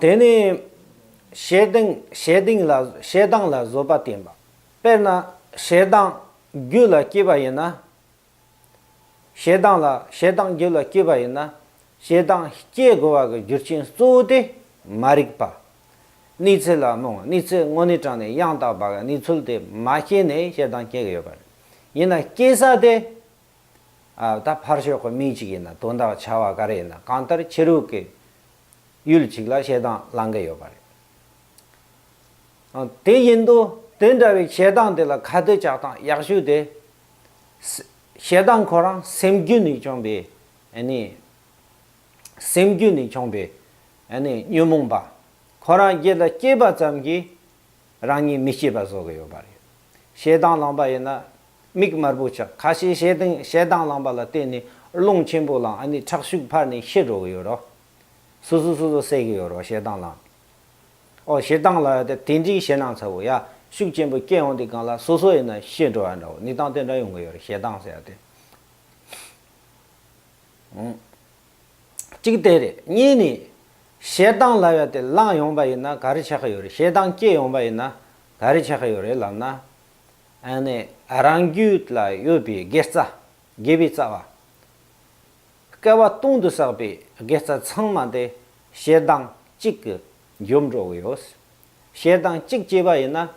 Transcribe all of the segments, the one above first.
དེ་ནི། ཞེ་སྡང་ལ་བཟོད་པ་བསྟེན་པ། དཔེར་ན་ཞེ་སྡང་རྒྱུད་ལ་སྐྱེས་པ་ཡིན་ན། ཞེ་སྡང་རྒྱུད་ལ་སྐྱེས་པ་ཡིན་ན། ཞེ་སྡང་སྐྱེ་དགོས་པ་གི་རྒྱུ་རྐྱེན་གཙོ་བོ་དེ་མ་རིག་པ། གནས་ཚུལ་ལ་རྨོངས་གནས་ཚུལ་དངོས་གནས་དྲང་ནས་ཡང་དག་པ་གི་གནས་ཚུལ་དེ་མ་སྐྱེས་ནས་ཞེ་སྡང་སྐྱེ་གི་ཡོད་པ་རེད། ཡིན་ན་སྐྱེ་ས་དེ་ཨ། ད་ཕར་ཞོག་གི་མིག་ཅིག་ཡིན་ན་དོན་དག་ཆ་བ་ག་རེ་ཡིན་ན་གང་ལྟར་ཕྱི་རོལ་གྱི་ཡུལ་ཅིག་ལ་བཤད་སྟངས་བླང་གི་ཡོད་པ་རེད། དེ་ཡིན་དུ་དེ་འདྲ་བའི་བཤད་སྟངས་དེ་ལ་ཁ་གཏད་བཅག་སྟངས་ཡག་ཤོས་དེ། བཤད་སྟངས་ཁོ་རང་སེམས་རྒྱུད་ནས་བྱུང་བའི་ཨ་ནི། སེམས་རྒྱུད་ནས་བྱུང་བའི་ཨ་ནི་ཉོན་མོངས་པ་ཁོ་རང་རྒྱལ་ལ་སྐྱེས་པ་ཙམ་གྱིས་རང་ཉིད་མི་སྐྱེས་པ་བཟོ་གི་ཡོད་པ་རེད། ཞེ་སྡང་ལངས་པ་ཡིན་ན། མིག་དམར་པོ་ཆགས་ཁ་ཤས་ཞེ་སྡང་ཞེ་སྡང་ལངས་པ་ལ་བརྟེན་ནས་རླུང་ཆེན་པོ་ལངས་ཨ་ནི་ཁྲག་ཤུགས་འཕར་ནས་ཤི་འགྲོ་གི་ཡོད་རོ། སོ་སོ་སོ་སོ་སད་གི་ཡོད་རོ་ཞེ་སྡང་ལངས། ཨོ་ཞེ་སྡང་ལ་ཡོད་དེ་འདྲིའི་ཞེ་སྣང་ཚ་བོ་ཡ་ཤུགས་ཆེན་པོ་སྐྱེས་འོང་དེ་གང་ལ་སོ་སོ་ཡིན་ན་ཤི་འགྲོ་ཨ་འདྲའོ་ནི་སྡང་དེ་འདྲ་ཡོང་གི་ཡོད་རེད་ཞེ་སྡང་ཟེར་ཡ་དེ། གཅིག་དེ་རེད་གཉིས་ནི། ཞེ་སྡང་ལབ་ཡ་དེ་བླངས་ཡོང་པ་ཡིན་ན་ག་རེ་བྱེད་ཀྱི་ཡོད་རེད་ཞེ་སྡང་སྐྱེས་ཡོང་པ་ཡིན་ན་ག་རེ་བྱེད་ཀྱི་ཡོད་རེད་ལབ་ན། ཨ་ནི་རང་རྒྱུད་ལ་ཡོད་པའི་དགེ་རྩ། དགེ་བའི་རྩ་བ། སྐལ་བ་སྟོང་དུ་བསགས་པའི་དགེ་རྩ་ཚང་མ་དེ་ཞེ་སྡང་གཅིག་གི་རྒྱུར་འགྲོ་གི་ཡོད། ཞེ་སྡང་གཅིག་སྐྱེས་པ་ཡིན་ན་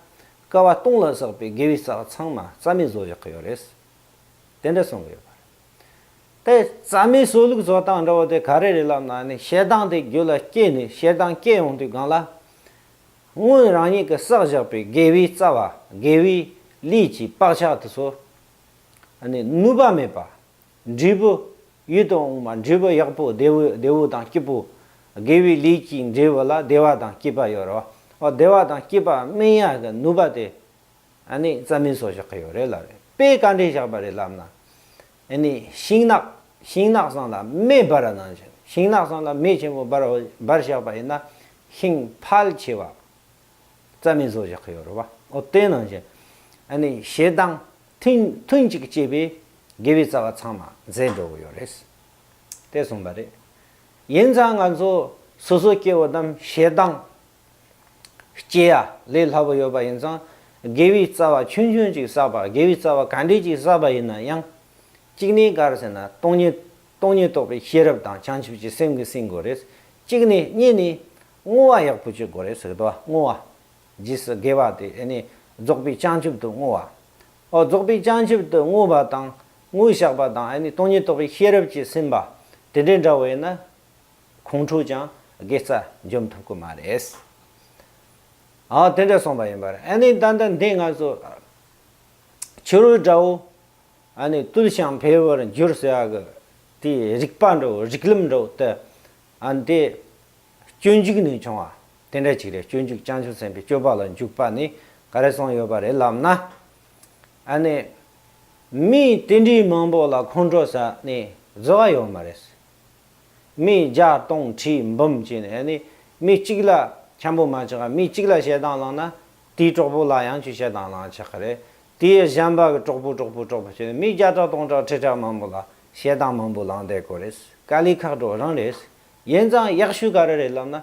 སྐལ་བ་སྟོང་ལ་བསགས་པའི་དགེ་བའི་རྩ་བ་ཚང་མ་རྩ་མེད་བཟོ་བཞག་གི་ཡོད་རེད། དེ་འདྲ་གསུང་གི་ཡོད་པ་རེད། དེ་རྩ་མེད་སོ་ལུགས་སོ་དང་འདྲ་བོ་དེ་ག་རེ་རེད་ལབ་ན་ནི་ཞེ་སྡང་དེ་རྒྱུད་ལ་སྐྱེས་ནས་ཞེ་སྡང་སྐྱེས་ཡོང་དུས་གང་ལ། སྔོན་རང་ཉིད་ཀྱི་བསགས་བཞག་པའི་དགེ་བའི་རྩ་བ་དགེ་བའི་ལུས་ཀྱིས་བག་ཆགས་དུ་སོ། ནི་ནུས་པ་མེད་པ། འབྲས་བུ། ཡུལ་དུ་འོང་བ་འབྲས་བུ་ཡག་པོ་བདེ་བོའི་བདེ་བོ་དང་སྐྱིད་པོ། དགེ་བའི་ལུས་ཀྱི་འབྲས་བུ་ལ་བདེ་བ་དང་སྐྱིད་པ་ཡོད་རོ། བདེ་བ་དང་སྐྱིད་པ་སྨིན་ཡ་གི་ནུས་པ་དེ། ཨ་ནི་རྩ་མིན་སོགས་བཞག་གི་ཡོད་རེད་ལབ་རེད་པས་བཀའ་འདྲི་བཞག་པ་རེད་ལབ་ན། ཨ་ནི་ཤིང་ནགས་ཤིང་ནགས་སང་ལ་མེ་སྦར་ར་ནང་བཞིན་ཤིང་ནགས་སང་ལ་མེ་ཆེན་པོ་སྦར་བ་སྦར་བཞག་པ་ཡིན་ན་ཤིང་ཕལ་ཆེ་བ་རྩ་མིན་སོགས་བཞག་གི་ཡོད་རེད་བ་ཨོ་དེ་ནང་བཞིན་ཨ་ནི་ཞེ་སྡང་ཐུན་ཐུན་གཅིག་སྐྱེས་པས་དགེ་བའི་རྩ་བ་ཚང་མ་འཛད་འགྲོ་གི་ཡོད་རེད། དེ་གསུངས་པ་རེད། ཡིན་ཙང་ང་ཚོ་སོ་སོ་སྐྱེ་བོ་རྣམས་ཞེ་སྡང་སྐྱེས་ཡ། ལས་སླ་པོ་ཡོད་པ་ཡིན་ཙང། དགེ་བའི་རྩ་བ་ཆུང་ཆུང་ཅིག་བསགས་པ་དགེ་བའི་རྩ་བ་ག་འདྲས་ཅིག་བསགས་པ་ཡིན་ན་ཡང། གཅིག་ནས་གར་ཟེར་ན་སྟོང་ཉིད། སྟོང་ཉིད་རྟོགས་པའི་ཤེས་རབ་དང་བྱང་ཆུབ་ཀྱི་སེམས་ཀྱིས་ཟིན་དགོས་རེད། གཅིག་ནས་གཉིས་ནས། བསྔོ་བ་ཡག་པོ་བྱེད་དགོས་རེད་ཟེར་གི་འདུག་བསྔོ་བ། རྗེས་སུ་དགེ་བ་དེ་ཨེ་ནས་རྫོགས་པའི་བྱང་ཆུབ་ཏུ་བསྔོ་བ། ཨོ་རྫོགས་པའི་བྱང་ཆུབ་ཏུ་བསྔོ་བ་དང། དངོས་བཤགས་པ་དང་ཨེ་ནས་སྟོང་ཉིད་རྟོགས་པའི་ཤེས་རབ་ཀྱིས་ཟིན་པ། དེ་འདྲས་འདྲ་བོ་ཡིན་ན། ཁོང་ཁྲོ་ཀྱང་དགེ་རྩ་འཇོམས་ཐུབ་ཀི་མ་རེད། ཨ་དེ་འདྲ་གསུངས་པ་ཡིན་པར་ཨ་ནི་ད་ལྟ་འདི་ང་ཚོ་ཕྱི་རོལ་དགྲ་བོ་ཨ་ནི་བཏུལ་ཞིང་འཕེལ་བར་འགྱུར་ཟེར་བ་གི་དེ་རིག་པ་འགྲོ་རིག་ལམ་འགྲོ་དེ་ཨ་ནི་དེ་སྤྱོད་འཇུག་ནས་བྱུང་བ་དེ་འདྲ་ཅིག་རེད་སྤྱོད་འཇུག་བྱང་ཆུབ་སེམས་དཔའི་སྤྱོད་པ་ལ་འཇུག་པ་ནི་ག་རེ་གསུངས་ཡོད་པ་རེད་ལབ་ན་ཨ་ནི་མི་དེ་འདྲའི་མང་པོ་ལ་ཁོང་ཁྲོ་ཟ་ནི་བཟོ་བ་ཡོད་མ་རེད། མི་བརྒྱ་སྟོང་ཁྲི་འབུམ་བྱས་ནས་ནི་མི་གཅིག་ལ་འཁྱམས་པོ་མ་བྱེད་ཀ་མི་གཅིག་ལ་ཞེ་སྡང་བསླངས་ན་དེའི་གྲོགས་པོ་ལ་ཡང་ཆུ་ཞེ་སྡང་བསླངས་ཆགས་ཀ་རེད་དེ་ཡི་གཞན་པ་གི་གྲོགས་པོ་གྲོགས་པོ་གྲོགས་པོ་བྱས་ནས་མི་བརྒྱ་ཕྲག་སྟོང་ཕྲག་ཁྲི་ཕྲག་མང་པོ་ལ་ཞེ་སྡང་མང་པོ་བསླངས་བསྡད་གོ་རེད་ཀ་ལི་ཁག་གྲོགས་རང་རེད་ཡིན་ཙང་ཡག་ཤོས་ག་རེ་རེད་ལབ་ན།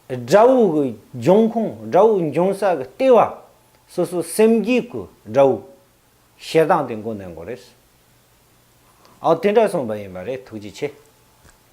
དགྲ་བོ་གི་འབྱུང་ཁུངས་དགྲ་བོ་འབྱུང་ས་གི་ལྟེ་བ་སོ་སོ་སེམས་རྒྱུད་ཀྱི་དགྲ་བོ། བཤད་སྟངས་དེ་མགོ་ནས་མགོ་རེད། ཨོ་དེ་འདྲ་གསུངས་པ་ཡིན་པ་རེད་ཐུགས་རྗེ་ཆེ།